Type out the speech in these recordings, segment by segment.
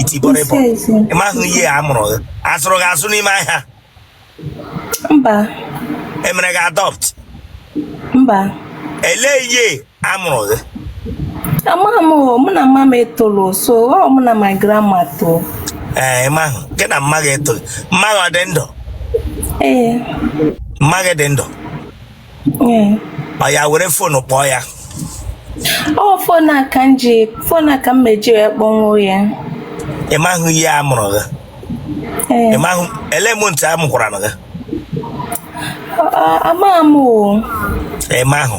itibọrịbọ ị mahụ year a mụrụ gị azụrụ gị azụ n'ime ahịa mba emere gị adopt mba elee year a mụrụ gị amaghị m mụ na mma m etolọ sọ mụ na my grandma too ee ị mahụ gị na mma gị etolu mma gị ọ dị ndụ ee mma gị dị ndụ oya were fonu kpọọ ya ọ fon a ka m ji fon a ka m ma-eji wee kpọnwuo ya ị mahụ year a mụrụ gị Ee, ị mahụ ele month a mụkwaranụ gị a- a- amaghị m o ị mahụ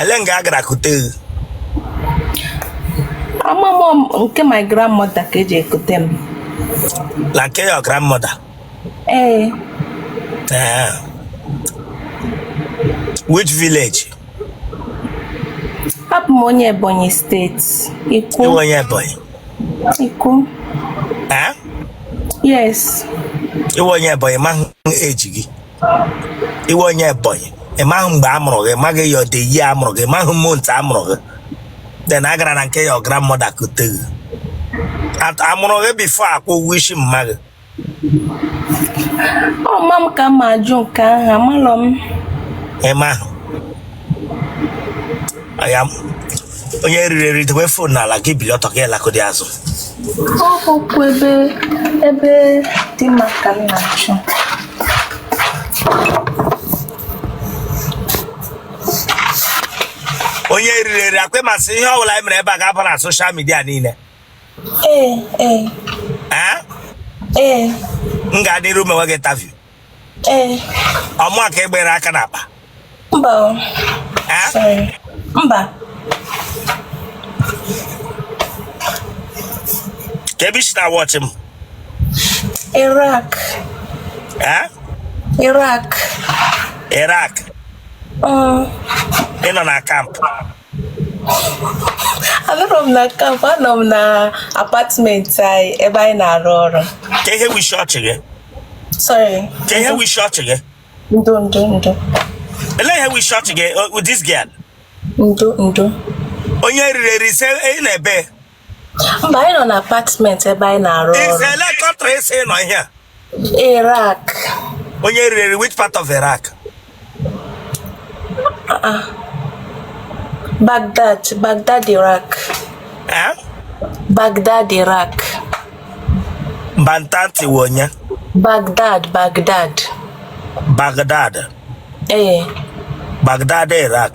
ele nga a gara kute gị amaghị m nke my grandmother ka e je kute m na nke your grandmother Ee. Ee. Which village? Abụ m onye Ebonyi steeti. Ikwo. Ị wụ onye Ebonyi? Ikwo. Ee? Yes. Ị wụ onye Ebonyi mahụ age gị. Ị wụ onye Ebonyi. Ị mahụ mgbe a mụrụ gị, ị mahụ your the year a mụrụ gị, ị mahụ month a mụrụ gị. Then a gara na nke your grandmother kute gị. Amụrụ gị before akwụọ ụgwọ isi mma gị. ọ mma m ka m ma-ajụ nke ahụ amalọ m ị mahụ aya m onye riri eri dowe fon n'ala gị bili ọtọ gị alakọdị azụ ọ bụkwa ebe ebe dị mma ka m na-achọ onye riri eri akwa ị ma sị ihe ọ bụla anyị mere ebe a ga-aba na social media niile m gaadị iru mewe gị interview ọ mụa ka egbere aka n'akpa mba mba kee ebe i shi na-watch m Iraq Iraq Iraq ị nọ na camp anọrọ m na camp anọ m na apartment anyị ebe anyị na-arụ ọrụ kee ihe wụ ishi ọchị gị sorry kee ihe wụ ishi ọchị gị ndo ndo ndo elee ihe wụ ishi ọchị gị uh, with this girl ndo ndo onye riri eri sị ị nọ ebe mba anyị nọ na apartment ebe anyị na-arụ ọrụ Ị sị ele country ị sị ị nọ ihe a. Iraq Onye riri which part of Iraq? Baghdad Baghdad Iraq Eh? Baghdad Iraq Bantanti wụ onye? Baghdad Baghdad Baghdad. ee Baghdad Iraq.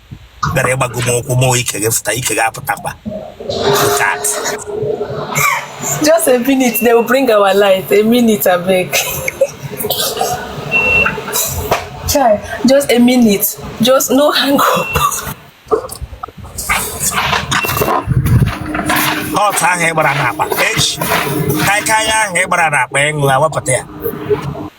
bịara ịgbago m ụkwụ ma ike gị fụta ike gị apụtakwa nke a Just a minute, they will bring our light. A minute, I beg. Chai, just a minute. Just no hang up. ọtụ ahụ ị gbara n'akpa echi kaikai ahụ ị gbara n'akpa ịṅụ awapụta ya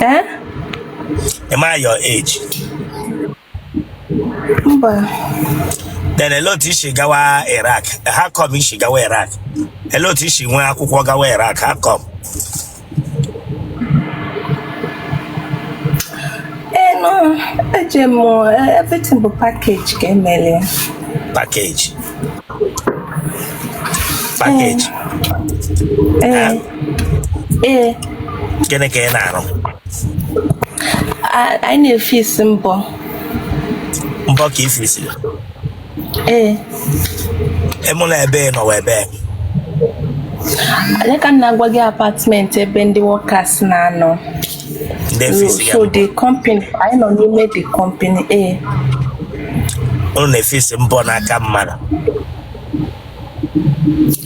Eh? Am I your age? Mba. Then elee otu i si gawa Iraq. How come i si gawa Iraq? Elee otu i si nwee akwụkwọ gawa Iraq. How come? Eh no, eje m eh, everything bụ package ka e meli. Package. package ee ee gịnị ka ị na-arụ a- anyị na-efisi mbọ mbọ ka i fisi ee ịmụ na ebe ị nọwa ebe anyị ka m na-agwa gị apartment ebe ndị workers na-anọ so the company anyị nọ n'ime the company a eh. unu na-efisi mbọ n'aka mmadụ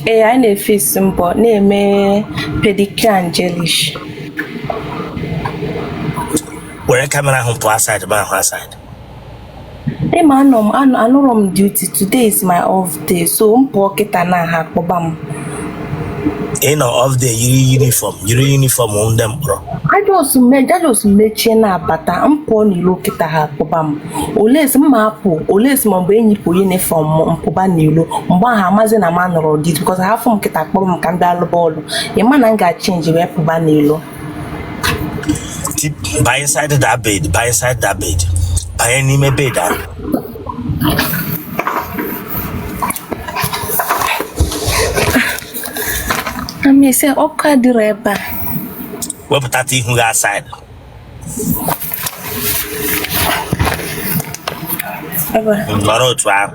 ee eh, anyị na-efisi mbọ na-eme pedicure and gelish were camera ahụ pụọ outside m ahụ outside Ị ma anọ m anọ- anọrọ m duty today is my off day so m pụọ kịta na ha akpọba m ị nọ off day yiri uniform yiri uniform ndị mkpọrọ a just me- a just mechie na-abata m pụọ n'ilo kịta ha akpọba m unless m ma apụ unless maybe m yipụ uniform m pụba n'ilo mgbe ahụ a mazi na m anọrọ duty because ha fụ m kịta akpọba m ka m bịa lụba ọlụ ị ma na m ga-achange wee pụba n'ilo baa inside that bed baa inside that bed banye n'ime bed ahụ amese ọkụ adịrọ ebe a wepụta ihu gị outside nọrọ otu ahụ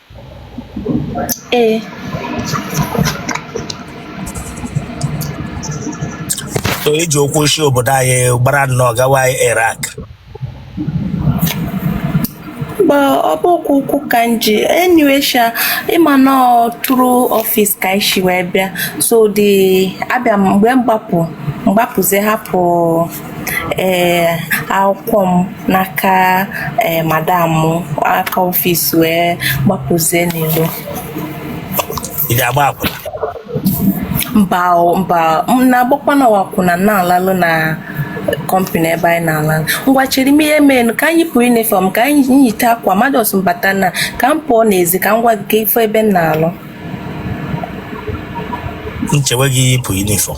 Ee. so i ji ụkwụ si obodo anyị gbara nnọọ gawa Iraq Mgbe ọ bụkwa ụkwụ ka m ji anyway sha ị ma na ọ through office ka anyị si wee bịa so the abịa m mgbe m gbapụ m gbapụzi hapụ ee akwụkwọ m n'aka ee madam m aka office wee gbapụzie n'ilo ị ga-agba akwụna mba o, mba m na-agbakwanụ akwụna m na-alụ ọlụ na company ebe anyị na-ala ngwa chere m ihe menu ka m yipụ uniform ka m yite akwa mmadụ so m bata na ka m pụọ n'ezi ka m gwa gị ka ị fụ ebe m na-alụ nchewe gị yipụ uniform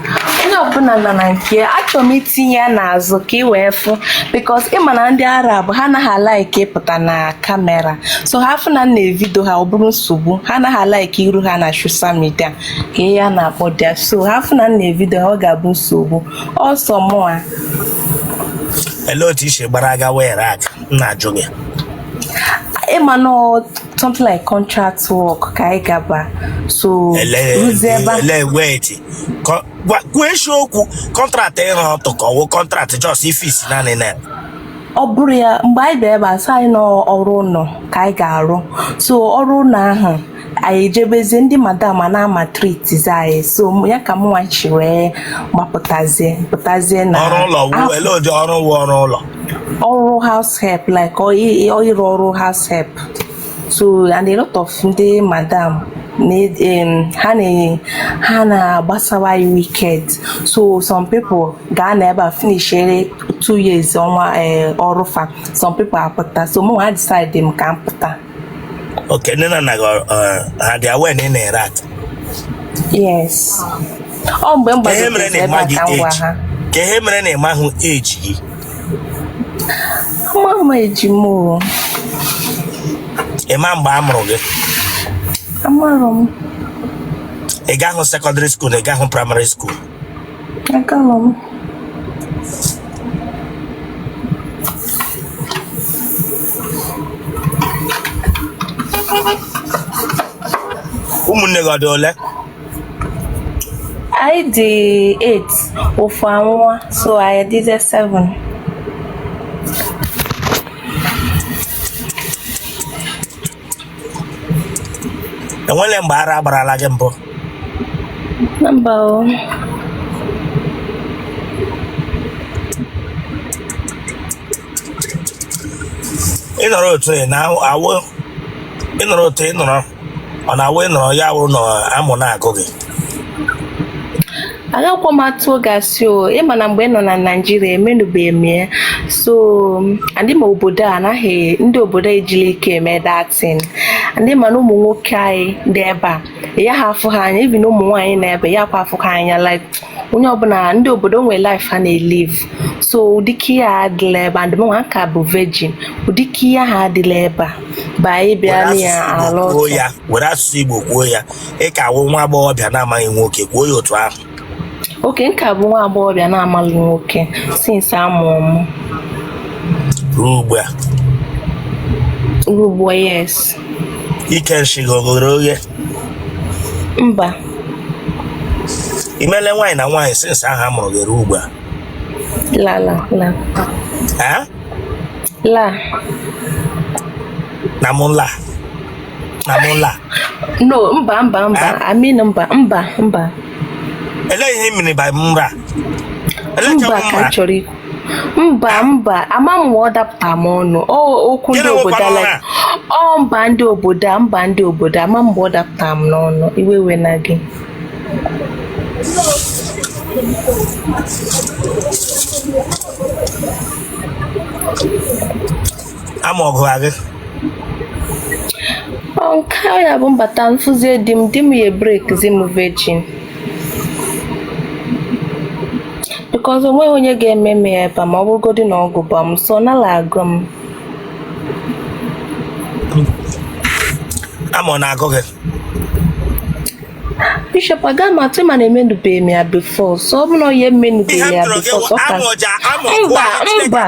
onye ọbụla nọ na nke ya achọrọ m itinye ya n'azụ ka ị wee fụ because ị ma na ndị arab ha anaghị alaiki ịpụta na kamera so ha fụ na m na-evido ha ọ bụrụ nsogbu ha anaghị alaiki iru ha na social media ka ihe a na-akpọdị ya so ha fụ na m na-evido ha ọ ga-abụ nsogbu so mụa Olee otu i si gbara gawa Iraq m na-ajụ gị? ị ma na ọ- something like contract work ka anyị gaba so Ele ruzie ebe a- ele wait Kọ- gwa- kwuo eziokwu contract ịra ọtụ ka ọ wụ contract just ifis naanị na ọ bụrụ ya mgbe anyị bịara ebe a sị anyị na ọrụ ụlọ ka anyị ga-arụ so ọrụ ụlọ ahụ anyị ejebezie ndị madam a na-amaltreatizi anyị so mụ- ya ka mụnwa ji wee gbapụtazie pụtazie na ọrụ ụlọ wụ ele ụdị ọrụ wụ ọrụ ụlọ ọrụ house help like ọ- ị- ọ ịrụ ọrụ house help so and a lot of ndị madam ha na-enye ha na-agbasawa ya wicked so some people ga-anọ ebe a finishere two years ọnwa eh, ọrụ fa some people apụta so mụwa decide m ka m pụta okay nne na nna gị eh, ha dị aware na ị nọ Iraq yes ọ mgbe m bịara ebe a ka m gwa ha kee ihe mere na ị mahụ age gị Amarọ m age m o. Ị ma mgbe a mụrụ gị? Amarọ m. Ị gahụ secondary school na ị gahụ primary school? Agalọ m. Ụmụnne gị ọ dị ole? anyị dị 8 ofu anwụọ so anyị dịzi 7 enwele mgbe ara agbarala gị mbụ na mba o ịnọrọ otu ị na-awụ ịnọrọ otu ị nọrọ ọ na-awụ ịnọrọ ya wụrụ na amụ na-agụ gị agakwa m atụ gị asị o ị ma na mgbe m nọ na naijiria emenụbeghị m ya so and ị ma obodo a anaghị ndị obodo eji like eme dating and ị ma na ụmụ nwoke anyị dị ebe a ị yaha afụ ha anya even ụmụ nwaanyị nọ ebe a ị yakwa afụ ha anya like onye ọbụla ndị obodo nwere life ha na-elive so ụdịka ihe ha adịla ebe a and mụnwa ka bụ virgin ụdịka ihe ha adịla ebe a ba anyị bịa na ya ala ọtọ ya were asụsụ igbo kwuo ya ị ka wụ nwa agbọghọbịa na-amaghị nwoke kwuo ya otu ahụ okay m ka bụ nwa agbọghọbịa na-amaghị nwoke since a mụrụ m ruo ugbu a ruo ugbu a yes ike nshị gị o ghere oghe mba i mele nwaanyị na nwaanyị since ahụ a mụrụ gị ruo ugbu a la la la Eh? la na mụ la na mụ la no mba mba mba Eh? I mean mba mba mba elee ihe mmiri ba mra elee mba ka ka m chọrọ ikwu mba mba ama m ọ dapụta m ọnụ okwu ndị obodo a la ọ mba ndị obodo a mba ndị obodo ama m ọ dapụta m n'ọnụ iwe ewena gị ama ọgụ gị nke ya bụ m bata m fụzie di m di m ya-ebreakzi m virgin because onweghị onye ga-eme m ya ebe a ma ọ bụrụgodị na ọ gụba m so nala agụ m ama ọ na-agụ gị bishop aga m atụ mana emenubeghị m ya before so ọ bụ na onye emenubeghị ya before so ọ ka mba mba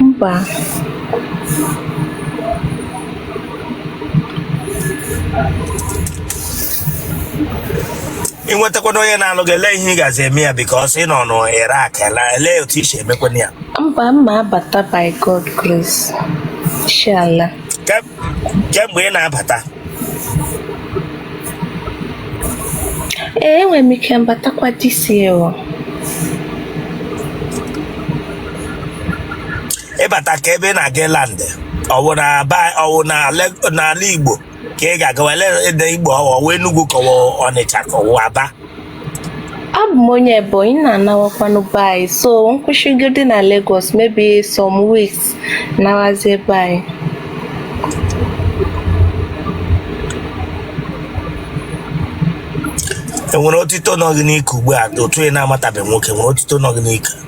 mba ị nwetakwana onye na-alụ gị elee ihe ị gazi eme ya because ị nọ n'Iraq a elee otu i si emekwana ya mba mma abata by god grace inshallah Ka- kee mgbe ị na-abata ee enwere m ike m batakwa this year ị bata kee ebe ị na-aga land ọ wụ na aba ọ wụ na Le- n'ala igbo ka ị ga-agawa ele- elee igbo ọ wụ Enugu ka ọ wụ ọnịcha ka ọ wụ aba abụ m onye Ebonyi na-anawakwanụ be anyị so m kwụsịgodi na Lagos maybe some weeks nawazie be anyị enwere otito nọ gị n'ike ugbu a otu ị na-amatabeghị nwoke nwere otito nọ gị n'ike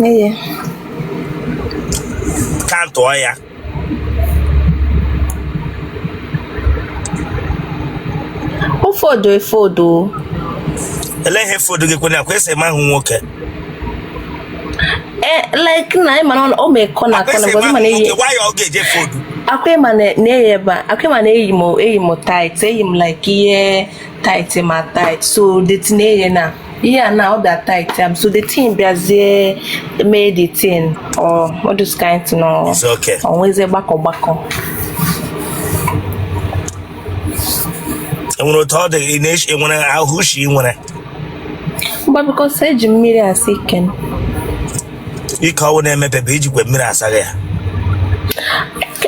N'ihi ka m tụọ ya ụfọdụ efodo ele ihe fodo gị kwena akwa esi eme ahụ nwoke e like na ịma na ọ ma ekọ na akọ na mgbe ịma na eyi nwoke why ọ ga-eje fodo akwa ịma na na-eyi ebe a akwa ịma na eyi m eyi m tight eyi m like ihe tight ma tight so the thing eye na ihe a na ọ da tight am so the thing bịazie mee the thing or all those kind thing or It's okay. onweze gbakọ gbakọ enwere otu ọ dị ị na-eche enwere ahụ ushi ị nwere but because eji mmiri asa ike m ike ọ wụ na-emepe bụ ijikwa mmiri asaghị ya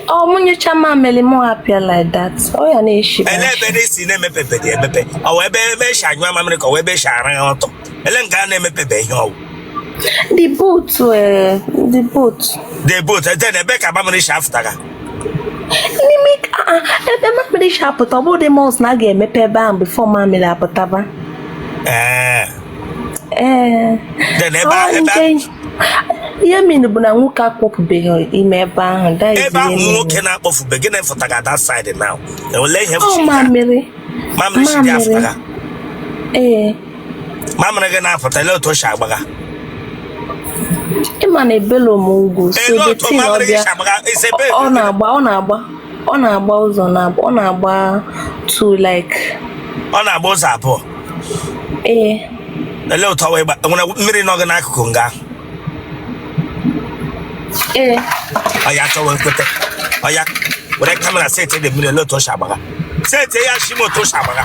ọ mụ nyụcha mamịrị m apịa like that ọ ya na-eshi ele ebe na-esi na-emepepe dị emepe ọ wụ ebe ebe eshi anyụ mamịrị ka ọ wụ ebe eshi ara ya ọtụ ele nke a na-emepepe ihe ọ wụ the both eh, the both the both then ebe ka mamịrị shi afụtaga n'ime ah, ah, ebe mamịrị shi apụta ọ bụrụ dị must na a ga-emepe ebe ahụ before mamịrị apụtaba ee eh. ee ihe mere bụ na nwoke akpọpụbeghị ime ebe ahụ ebe ahụ nwoke na-akpọfube gị na-efụtaga that side now enwele ihe mamịrị mamịrị si dị afụta ee mamịrị gị na-apụta lee otu o si agbaga ịma na ebelo m ugwu so the thing ọ bịa ọ na-agba ọ na-agba ọ na-agba ụzọ na ọ na-agba two like ọ na-agba ụzọ abụọ ee ele otu o wee gba nwere mmiri nọ gị n'akụkụ nga ee oya chọwa ekweta oya were camera seti dị mmiri ele otu o si agbaga seti ya shi m otu o si agbaga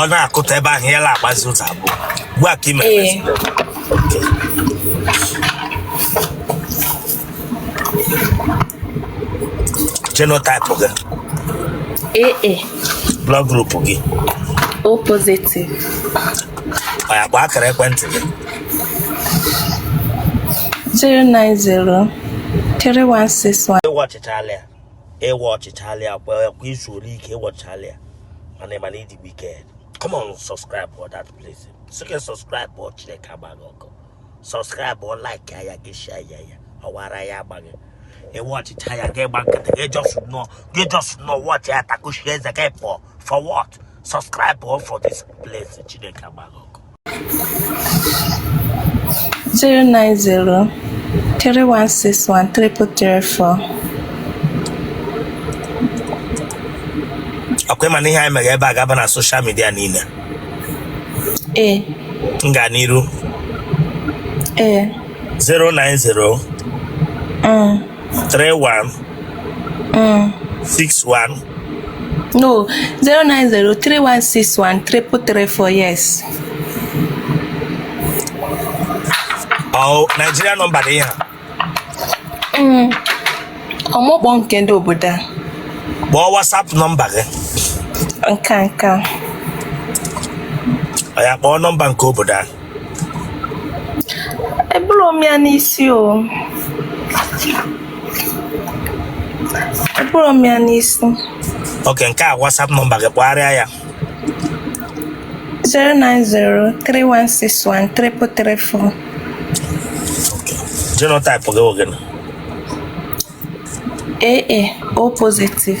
ọ na-akụta ebe ahụ ya na-agbazi ụzọ abụọ ugbu a ka ị me genotype gị AA blood group gị O positive oya kpọọ akara ekwentị gị 090316 ị watchịchala ya ị watchịchala ya kwa i zuole ike ị watchala ya mana ịma na ịdị wicked come on subscribe for that place sike subscribe or Chineke agba gị ọkụ subscribe or like ya ya gị share ya ya ọwara ya agba gị ị watchịcha ya gị gba nkịtị gị just nọ gị just nọ watch ya takushi eze gị pụọ for what subscribe for this place Chineke agba gị ọkụ zero nine zero three one six one triple three four. ọ kwa ị ma na ihe anyị mere ebe a ga-aba na social media niile Ee, m gaa n'iru ee, 090 mm, three one Mm. six one No, 090-3161-3334, yes. ọ Nigeria number dị ya Mm. Ọ mụ kpọọ nke ndị obodo a. kpọọ WhatsApp nọmba gị Nke a nke a. oya kpọọ nọmba nke obodo a eburu m ya n'isi o eburu m ya n'isi okay nke a WhatsApp nọmba gị kpọgharịa ya 09031613334 genotype gị ọ gịnị AA O positive